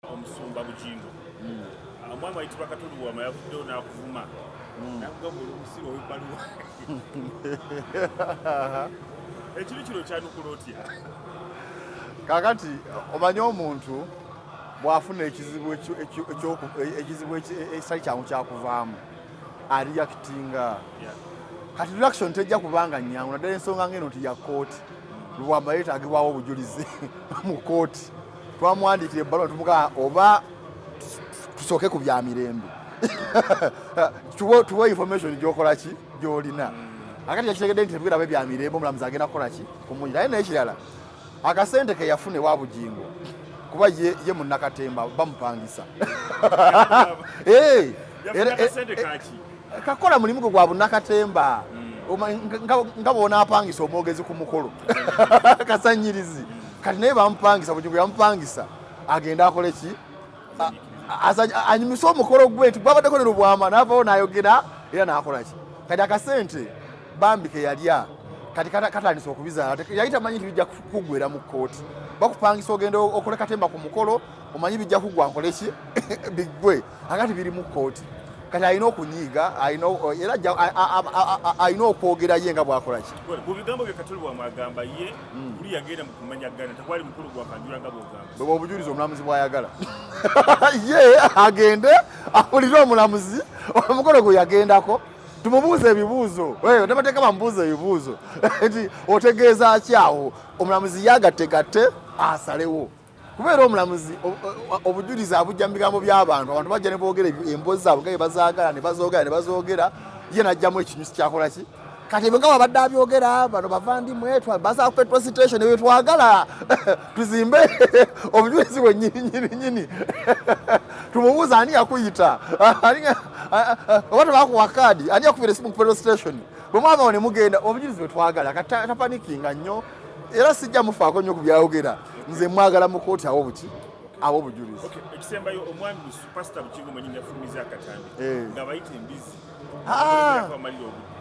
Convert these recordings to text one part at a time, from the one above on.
omusumba bugingo hmm. ah, omwami wayitibwa katulu wama yavuddewo n'akuvuma hmm. nakugamba oli omusiru owebbaluwa ekibi kino kyanukula otya kakati omanye omuntu bwafuna ekizibu ekizibu ekitali kyangu kyakuvaamu ariyakitinga kati reaction tejja kubanga nyangu naddala ensonga ngeno nti ya kooti hmm. lwamba yetagibwawo obujulizi mu kooti twamuwandiikira ebbaluwa tumugaa oba tusooke ku bya mirembe tuwa information gyokola ki gyolina mm. akati yakitegedde nti tebigera be bya mirembe omulamuzi agenda kukola ki kumunyi naye nekirala akasente ke yafuna ewa bugingo kuba ye, ye munnakatemba bamupangisa hey, eh, eh, eh, kakola mulimu gwe gwa bunakatemba hmm. nga bwonapangisa omwogezi ku mukolo kasanyirizi kati naye bamupangisa bujugu yamupangisa agenda akole ki anyumisa omukolo gwe nti gwabaddeko ne lubwama navawo nayogera era nakola ki kati akasente bambi keyalya kati katandise okubizaala yali tamanyi nti bijja kugwera mu kkooti bakupangisa ogenda okole katemba ku mukolo omanyi bijja kugwa nkoleki biggwe akati biri mu kooti kati alina okunyiiga era alina okwogera ye nga bwakola ki mu bigambo bye katuli bwamwagamba ye hmm. buli yagenda mukumanya gana tekwali mukulu gwakanjula nga bwogamba bweba obujulizi omulamuzi bwayagala ye agende awulire omulamuzi omukolo gwe yagendako tumubuuze ebibuuzo nabateeka bamubuuza ebibuuzo nti otegeeza ki awo omulamuzi yagatte gatte asalewo kubeera omulamuzi obujulizi abujja mu bigambo by'abantu abantu bajja ne boogera emboozi zaabwe gaye bazaagala ne bazoogera ne bazoogera ye najjamu ekinyusi kyakola ki kati bwe nga babadde abyogera bano bava ndi mwetwa baza petrol station ebyo twagala tuzimbe obujulizi bwe nyininyininyini tumubuuza ani yakuyita oba tebakuwa kaadi ani yakubira esimu ku petrol station bwe mwavawo ne mugenda obujulizi bwe twagala kati tapanikinga nnyo era sijja mufaako nnyo ku byayogera nze mwagala mu kooti awo buki awo obujulizi ekisembayo omwami pasita bukigo mwenyini yafulumiza akatambi eh. nga bayita embizi ah.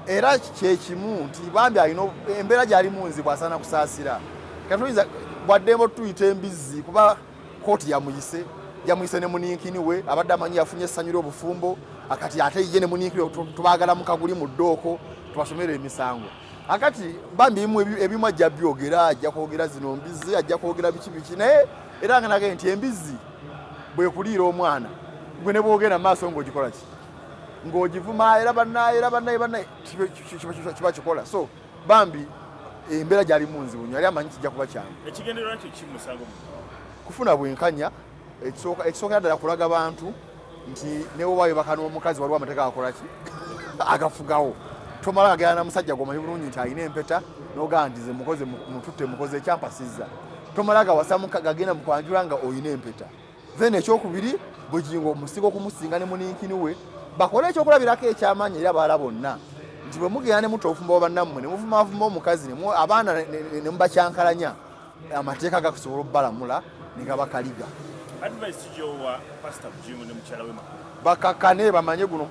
era kyekimu nti bambi alina embeera gyalimu nzibu asaana kusaasira katoyinza bwaddembo tuyita embizzi kuba kooti yamuyise yamuyise ne muninkini we abadde amanyi yafunye essanyu ly'obufumbo akati ate ye ne muninkini tubagala mukaguli mu ddooko tubasomere emisango akati bambi mu ebimu ajja byogera ajja kwogera zino mbizi ajja kwogera biki biki naye era nga nage nti embizi bwekuliira omwana gwe ne bwogenda maaso ng'ogikola ki ng'ogivuma era bannaye era bannaye bannaye kiba kikola so bambi embeera gyali munzibu nyo yali amanyi kijja kuba kyangu kufuna bwenkanya ekisookera ddala kulaga bantu nti newobaayo baka n'omukazi waliwo amateeka akolaki agafugawo tomala agera na musajja gwomanyi bulungi nti alina empeta nogandize mukoze mututte mukoze ekyampasiza tomala gawasa gagenda mukwanjula nga olina empeta then ekyokubiri bugingo omusinga okumusinga ne muninkini we bakole ekyokulabirako ekyamaanyi era baala bonna nti bwe mugenda ne mutta obufumba bwa bannammwe ne muvumavuma omukazi abaana ne mubakyankalanya amateeka gakusobola obalamula negabakaliga bakakane bamanye guno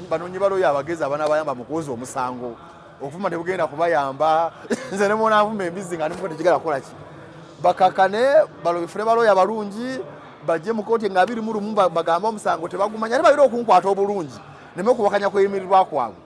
banonye baloyo abagezi abana bayamba mukuwoza omusango okufuma tebugenda kubayamba nze nemonavuma embizi nga nimuko tekigala kukolaki bakakane balobifune baloyo abalungi bajje mukoti nga abiri mulumu bagamba omusango tebagumanya ate bayira okunkwata obulungi neme okuwakanya kweyimirirwa kwabwe